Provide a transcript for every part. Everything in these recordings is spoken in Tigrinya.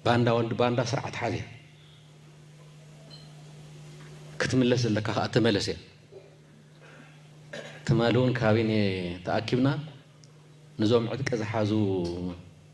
ባንዳ ወዲ ባንዳ ስርዓት ሓዝያ ክትምለስ ዘለካ ከዓ ተመለስ እያ ትማሊ እውን ካቢኔ ተኣኪብና ንዞም ዕጥቂ ዝሓዙ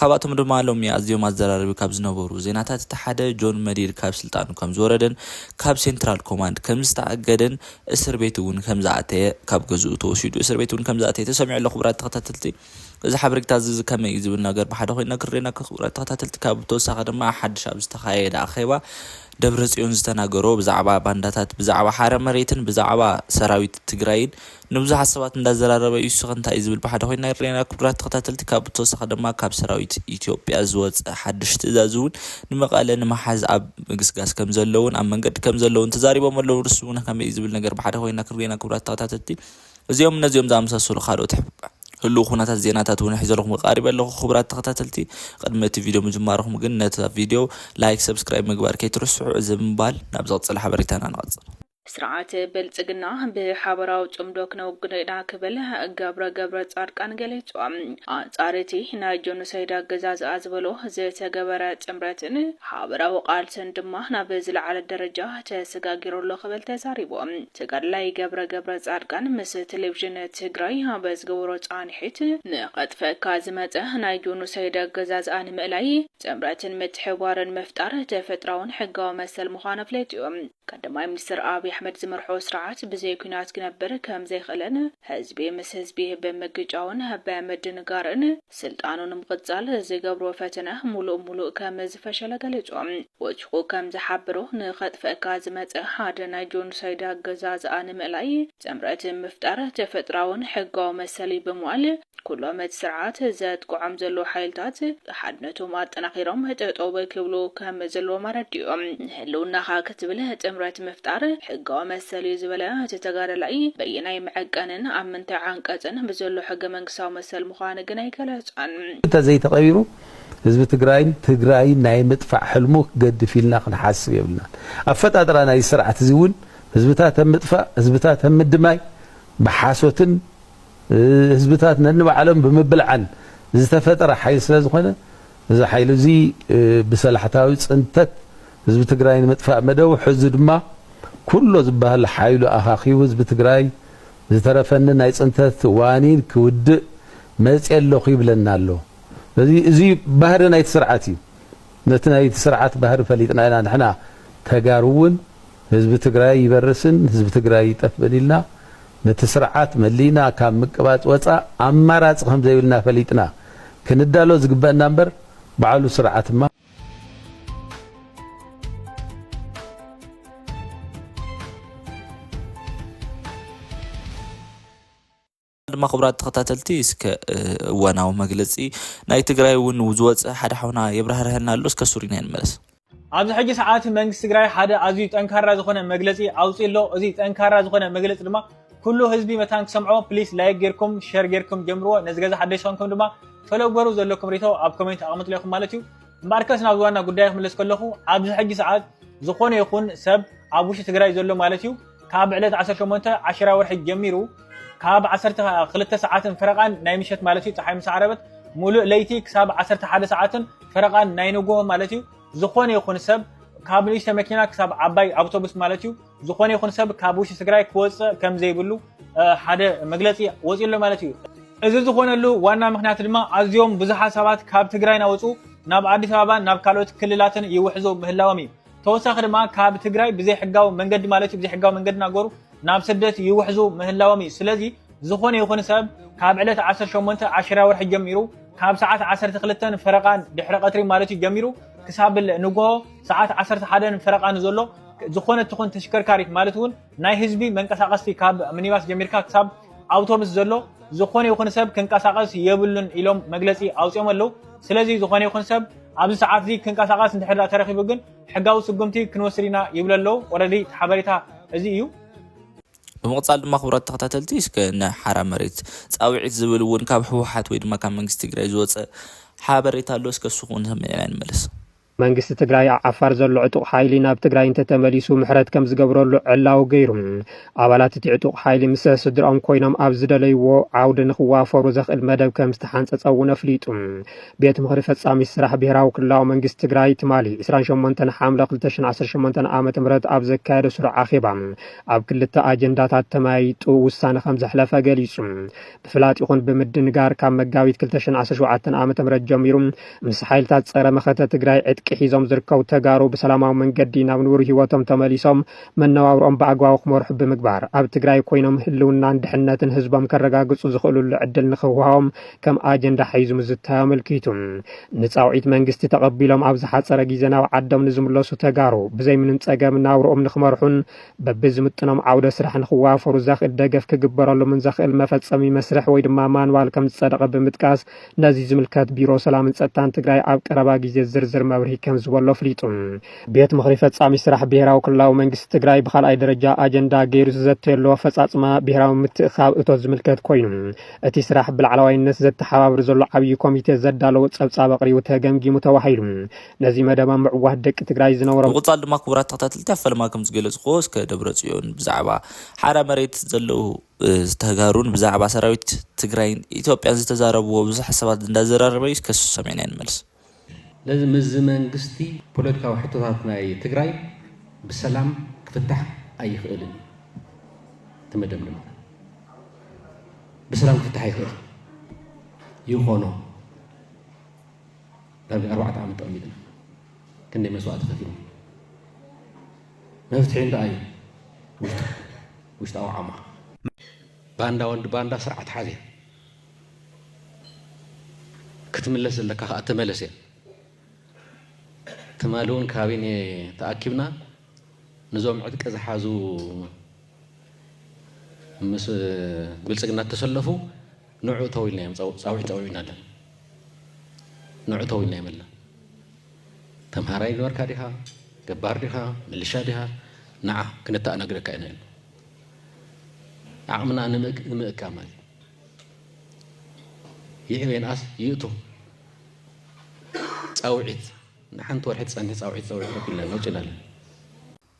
ካብኣቶም ድማ ሎሚ ኣዝዮም ኣዘራረቢ ካብ ዝነበሩ ዜናታት እቲ ሓደ ጆን መዲድ ካብ ስልጣኑ ከም ዝወረደን ካብ ሴንትራል ኮማንድ ከም ዝተኣገደን እስር ቤት እውን ከም ዝኣተየ ካብ ገዝኡ ተወሲዱ እስር ቤት እውን ከም ዝኣተየ ተሰሚዑ ኣሎ ክቡራት ተኸታተልቲ እዚ ሓበሬታ እዚ ከመይ እዩ ዝብል ነገር ብሓደ ኮይኑ ነክርሬና ክቡራት ተኸታተልቲ ካብ ተወሳኺ ድማ ሓድሽ ኣብ ዝተኻየደ ኣኼባ ደብረጽዮን ዝተናገሮ ብዛዕባ ባንዳታት ብዛዕባ ሓረ መሬትን ብዛዕባ ሰራዊት ትግራይን ንብዙሓት ሰባት እንዳዘራረበ እዩ እስኺ እንታይ እዩ ዝብል ብሓደ ኮይንና ይረኣየና ክቡራት ተኸታተልቲ ካብ ብተወሳኺ ድማ ካብ ሰራዊት ኢትዮጵያ ዝወፀ ሓዱሽ ትእዛዝ እውን ንመቐለ ንምሓዝ ኣብ ምግስጋስ ከምዘሎ እውን ኣብ መንገዲ ከምዘሎ እውን ተዛሪቦም ኣለው ንሱ እውን ከመይ እዩ ዝብል ነገር ብሓደ ኮይንና ክንሪኤና ክቡራት ተኸታተልቲ እዚኦም እነዚኦም ዝኣመሳሰሉ ካልኦት ህሉው ኩነታት ዜናታት እውን ሒዘልኩም ቀሪበ ኣለኹ ክቡራት ተኸታተልቲ ቅድሚ እቲ ቪድዮ ምጅማርኹም ግን ነታ ቪድዮ ላይክ ሰብስክራይብ ምግባር ከይትርስዑ እዚ ምባል ናብ ዝቕፅል ሓበሬታና ንቐፅል ስርዓት ብልጽግና ብሓበራዊ ጽምዶ ክነውግዶ ኢና ክብል ገብረ ገብረጻድቃን ገሊጹ። ኣንጻር እቲ ናይ ጆኖሶይድ ኣገዛዝኣ ዝበሎ ዝተገበረ ጥምረትን ሓበራዊ ቃልስን ድማ ናብ ዝለዓለ ደረጃ ተሰጋጊሩ ኣሎ ክብል ተዛሪቡ። ተጋዳላይ ገብረ ገብረጻድቃን ምስ ቴሌቪዥን ትግራይ ኣብ ዝገበሮ ጻንሒት፣ ንኸጥፈካ ዝመጸ ናይ ጆኖሶይድ ኣገዛዝኣ ንምእላይ ጥምረትን ምትሕብባርን ምፍጣር ተፈጥራውን ሕጋዊ መሰል ምዃኑ ኣፍሊጡ። ቀዳማይ ሚኒስትር ኣብይ ኣሕመድ ዝመርሖ ስርዓት ብዘይ ኲናት ክነብር ከምዘይኽእልን ህዝቢ ምስ ህዝቢ ብምግጫውን ብምድንጋርን ስልጣኑ ንምቕፃል ዝገብሮ ፈተነ ሙሉእ ሙሉእ ከምዝፈሸለ ገሊፁ። ወችኹ ከምዝሓበሮ ንኸጥፍእካ ዝመፀ ሓደ ናይ ጆኖሳይድ ኣገዛዝኣ ንምእላይ ጥምረት ምፍጣር ተፈጥራውን ሕጋዊ መሰል እዩ ብምባል ኩሎም እቲ ስርዓት ዘጥቅዖም ዘለዉ ሓይልታት ሓድነቶም ኣጠናኺሮም ጠጠው ክብሉ ከም ዘለዎም ኣረዲኡ። ንህልውናኻ ክትብል ጥምረት ምፍጣር ሕጋዊ መሰል እዩ ዝበለ እቲ ተጋዳላይ፣ በየናይ መዐቀንን ኣብ ምንታይ ዓንቀፅን ብዘሎ ሕገ መንግስታዊ መሰል ምዃኑ ግን ኣይገለፀን። እንተዘይተቐቢሩ ህዝቢ ትግራይን ትግራይን ናይ ምጥፋእ ሕልሙ ክገድፍ ኢልና ክንሓስብ የብልናን። ኣፈጣጥራ ናይዚ ስርዓት እዚ እውን ህዝብታት ኣብ ምጥፋእ፣ ህዝብታት ኣብ ምድማይ ብሓሶትን፣ ህዝብታት ነንባዕሎም ብምብልዓን ዝተፈጠረ ሓይሊ ስለዝኾነ እዚ ሓይሊ እዚ ብሰላሕታዊ ፅንተት ህዝቢ ትግራይ ንምጥፋእ መደቡ ሕዚ ድማ ኩሎ ዝበሃል ሓይሉ ኣኻኪቡ ህዝቢ ትግራይ ዝተረፈኒ ናይ ፅንተት ዋኒን ክውድእ መፅየ ኣለኹ ይብለና ኣሎ። ስለዚ እዚ ባህሪ ናይቲ ስርዓት እዩ። ነቲ ናይቲ ስርዓት ባህሪ ፈሊጥና ኢና ንሕና ተጋሩ ውን ህዝቢ ትግራይ ይበርስን ህዝቢ ትግራይ ይጠፍእን ኢልና ነቲ ስርዓት መሊእና ካብ ምቅባፅ ወፃእ ኣማራፂ ከምዘይብልና ፈሊጥና ክንዳሎ ዝግበእና እምበር ባዕሉ ስርዓትማ ድማ ክቡራት ተኸታተልቲ እስከ እዋናዊ መግለፂ ናይ ትግራይ እውን ዝወፀ ሓደ ሓውና የብራህርሀና ኣሎ እስከ ሱሪና ንመለስ ኣብዚ ሕጂ ሰዓት መንግስቲ ትግራይ ሓደ ኣዝዩ ጠንካራ ዝኾነ መግለፂ ኣውፂ ኣሎ እዚ ጠንካራ ዝኾነ መግለፂ ድማ ኩሉ ህዝቢ መታን ክሰምዖ ፕሊስ ላይክ ጌርኩም ሸር ጌርኩም ጀምርዎ ነዚ ገዛ ሓደሽ ዝኾንኩም ድማ ፈለጎሩ ዘለኩም ሪቶ ኣብ ኮሜንት ኣቕምጥሎ ኢኹም ማለት እዩ እምበኣርከስ ናብ ዝዋና ጉዳይ ክምለስ ከለኹ ኣብዚ ሕጂ ሰዓት ዝኾነ ይኹን ሰብ ኣብ ውሽጢ ትግራይ ዘሎ ማለት እዩ ካብ ዕለት ዓሰርተ ሸሞንተ ዓሸራ ወርሒ ጀሚሩ ካብ ዓሰርተ ክልተ ሰዓትን ፈረቓን ናይ ምሸት ማለት እዩ ፀሓይ ምስ ዓረበት ሙሉእ ለይቲ ክሳብ ዓሰርተ ሓደ ሰዓትን ፈረቓን ናይ ንጉሆ ማለት እዩ ዝኾነ ይኹን ሰብ ካብ ንእሽተ መኪና ክሳብ ዓባይ ኣውቶቡስ ማለት እዩ ዝኾነ ይኹን ሰብ ካብ ውሽጢ ትግራይ ክወፅእ ከም ዘይብሉ ሓደ መግለፂ ወፂኡ ኣሎ ማለት እዩ እዚ ዝኾነሉ ዋና ምክንያት ድማ ኣዝዮም ብዙሓት ሰባት ካብ ትግራይ ናወፁ ናብ ኣዲስ ኣበባን ናብ ካልኦት ክልላትን ይውሕዙ ምህላዎም እዩ ተወሳኺ ድማ ካብ ትግራይ ብዘይሕጋዊ መንገዲ ማለት እዩ ብዘይሕጋዊ መንገዲ ናገሩ ናብ ስደት ይውሕዙ ምህላዎም እዩ ስለዚ ዝኾነ ይኹን ሰብ ካብ ዕለት 18 ዓሽራ ወርሒ ጀሚሩ ካብ ሰዓት 12 ፈረቓን ድሕሪ ቀትሪ ማለት እዩ ጀሚሩ ክሳብ ንግሆ ሰዓት 11 ፈረቓን ዘሎ ዝኾነ ትኹን ተሽከርካሪት ማለት እውን ናይ ህዝቢ መንቀሳቐስቲ ካብ ሚኒባስ ጀሚርካ ክሳብ ኣውቶብስ ዘሎ ዝኾነ ይኹን ሰብ ክንቀሳቐስ የብሉን ኢሎም መግለፂ ኣውፂኦም ኣለዉ። ስለዚ ዝኾነ ይኹን ሰብ ኣብዚ ሰዓት እዚ ክንቀሳቐስ እንድሕር ተረኺቡ ግን ሕጋዊ ስጉምቲ ክንወስድ ኢና ይብሉ ኣለዉ። ኦረዲ እቲ ሓበሬታ እዚ እዩ። ብምቕፃል ድማ ክቡራት ተኸታተልቲ እስከ ንሓራ መሬት ፃውዒት ዝብል እውን ካብ ህወሓት ወይ ድማ ካብ መንግስቲ ትግራይ ዝወፀ ሓበሬታ ኣሎ እስከ እሱ ክውን ሰሚዕና ንመለስ። መንግስቲ ትግራይ ኣብ ዓፋር ዘሎ ዕጡቕ ሓይሊ ናብ ትግራይ እንተተመሊሱ ምሕረት ከም ዝገብረሉ ዕላዊ ገይሩ። ኣባላት እቲ ዕጡቕ ሓይሊ ምስ ስድራኦም ኮይኖም ኣብ ዝደለይዎ ዓውዲ ንክዋፈሩ ዘኽእል መደብ ከም ዝተሓንፀፀ እውን ኣፍሊጡ። ቤት ምኽሪ ፈፃሚት ስራሕ ብሄራዊ ክልላዊ መንግስቲ ትግራይ ትማሊ ዕስራን ሸሞንተን ሓምለ ክልተ ሽሕን ዓሰርተ ሸሞንተን ዓመተ ምህረት ኣብ ዘካየዶ ስሩዕ ኣኼባ ኣብ ክልተ ኣጀንዳታት ተመያይጡ ውሳነ ከም ዘሕለፈ ገሊፁ። ብፍላጥ ይኹን ብምድንጋር ካብ መጋቢት 2017 ዓ ም ጀሚሩ ምስ ሓይልታት ፀረ መኸተ ትግራይ ዕጥቂ ሒዞም ዝርከቡ ተጋሩ ብሰላማዊ መንገዲ ናብ ንቡር ህይወቶም ተመሊሶም መነባብሮኦም ብኣግባቡ ክመርሑ ብምግባር ኣብ ትግራይ ኮይኖም ህልውናን ድሕነትን ህዝቦም ከረጋግፁ ዝኽእሉሉ ዕድል ንክውሃቦም ከም ኣጀንዳ ሓይዙ ምዝታዮ ኣመልኪቱ ንፃውዒት መንግስቲ ተቐቢሎም ኣብ ዝሓፀረ ግዜ ናብ ዓዶም ንዝምለሱ ተጋሩ ብዘይምንም ፀገም ናብርኦም ንክመርሑን በቢዝምጥኖም ዓውደ ስራሕ ንክዋፈሩ ዘኽእል ደገፍ ክግበረሎምን ዘኽእል መፈፀሚ መስርሕ ወይ ድማ ማንዋል ከምዝፀደቐ ብምጥቃስ ነዚ ዝምልከት ቢሮ ሰላምን ፀጥታን ትግራይ ኣብ ቀረባ ግዜ ዝርዝር መብርሂ ከምዝበሎ ኣፍሊጡ። ቤት ምኽሪ ፈፃሚ ስራሕ ብሄራዊ ክልላዊ መንግስቲ ትግራይ ብካልኣይ ደረጃ ኣጀንዳ ገይሩ ዝዘተየሉ ኣፈፃፅማ ብሄራዊ ምትእኽኻብ እቶት ዝምልከት ኮይኑ እቲ ስራሕ ብላዕለዋይነት ዘተሓባብር ዘሎ ዓብዪ ኮሚቴ ዘዳለዎ ፀብፃብ ኣቕሪቡ ተገምጊሙ ተባሂሉ። ነዚ መደብ ኣብ ምዕዋት ደቂ ትግራይ ዝነበሮም ብምቕጻል ድማ ክቡራት ተኸታተልቲ ኣብ ፈለማ ከም ዝገለጽኩዎ እስከ ደብረጽዮን ብዛዕባ ሓራ መሬት ዘለዉ ተጋሩን ብዛዕባ ሰራዊት ትግራይን ኢትዮጵያን ዝተዛረብዎ ብዙሕ ሓሳባት እንዳዘራረበ እዩ እስከ ንሱ ሰሚዕናዮ ንመለስ። ስለዚ ምስዚ መንግስቲ ፖለቲካዊ ሕቶታት ናይ ትግራይ ብሰላም ክፍታሕ ኣይኽእልን እዩ እቲ መደምደምታ። ብሰላም ክፍታሕ ይኽእል ይኾኖ። ዳርጋ ኣርባዕተ ዓመት ተቐሚጥና ክንደይ መስዋእቲ ከፊልና መፍትሒ እንታይ እዩ? ውሽጣዊ ዓማ ባንዳ ወዲ ባንዳ ስርዓት ሓዝያ ክትምለስ ዘለካ ከዓ ተመለስ እያ ትማሊ እውን ካቢነ ተኣኪብና ንዞም ዕጥቂ ዝሓዙ ምስ ብልፅግና እተሰለፉ ንዑ ተው ኢልናዮም ጻዊዒት ጸዊዑና ኣለና ንዑ ተው ኢልናዮም ኣለና ተምሃራይ ነበርካ ዲኻ ገባር ዲኻ ምልሻ ዲኻ ንዓ ክነተኣናግደካ ኢና ኢሉ ዓቕምና ንምእካ ማለት ይዕበየንኣስ ይእቱ ፃውዒት ንሓንቲ ወርሒ ትፀንሒ ፃውዒት ፀውዒት ረኪልና ነውፅና ኣለና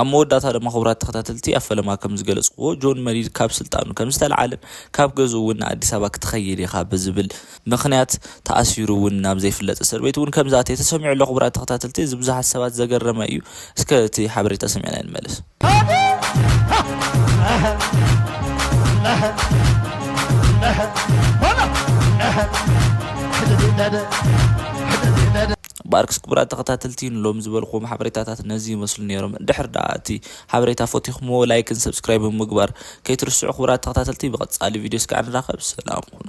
ኣብ መወዳእታ ድማ ክቡራት ተኸታተልቲ ኣብ ፈለማ ከም ዝገለጽኩዎ ጆን መዲድ ካብ ስልጣኑ ከም ዝተለዓለን ካብ ገዝኡ እውን ንኣዲስ ኣበባ ክትኸይድ ኢኻ ብዝብል ምኽንያት ተኣሲሩ እውን ናብ ዘይፍለጥ እስር ቤት እውን ከም ዝኣተየ ተሰሚዑ ኣሎ። ክቡራት ተኸታተልቲ እዚ ብዙሓት ሰባት ዘገረመ እዩ። እስከ እቲ ሓበሬታ ሰሚዕና ንመለስ። ባርክስ ክቡራት ተኸታተልቲ ንሎሚ ዝበልክዎም ሓበሬታታት ነዚ ይመስሉ ነይሮም እንድሕር ደኣ እቲ ሓበሬታ ፈቲኹምዎ ላይክን ሰብስክራይብን ምግባር ከይትርስዑ ክቡራት ተኸታተልቲ ብቐጻሊ ቪድዮ እስካዕ ንራኸብ ሰላም ኩኑ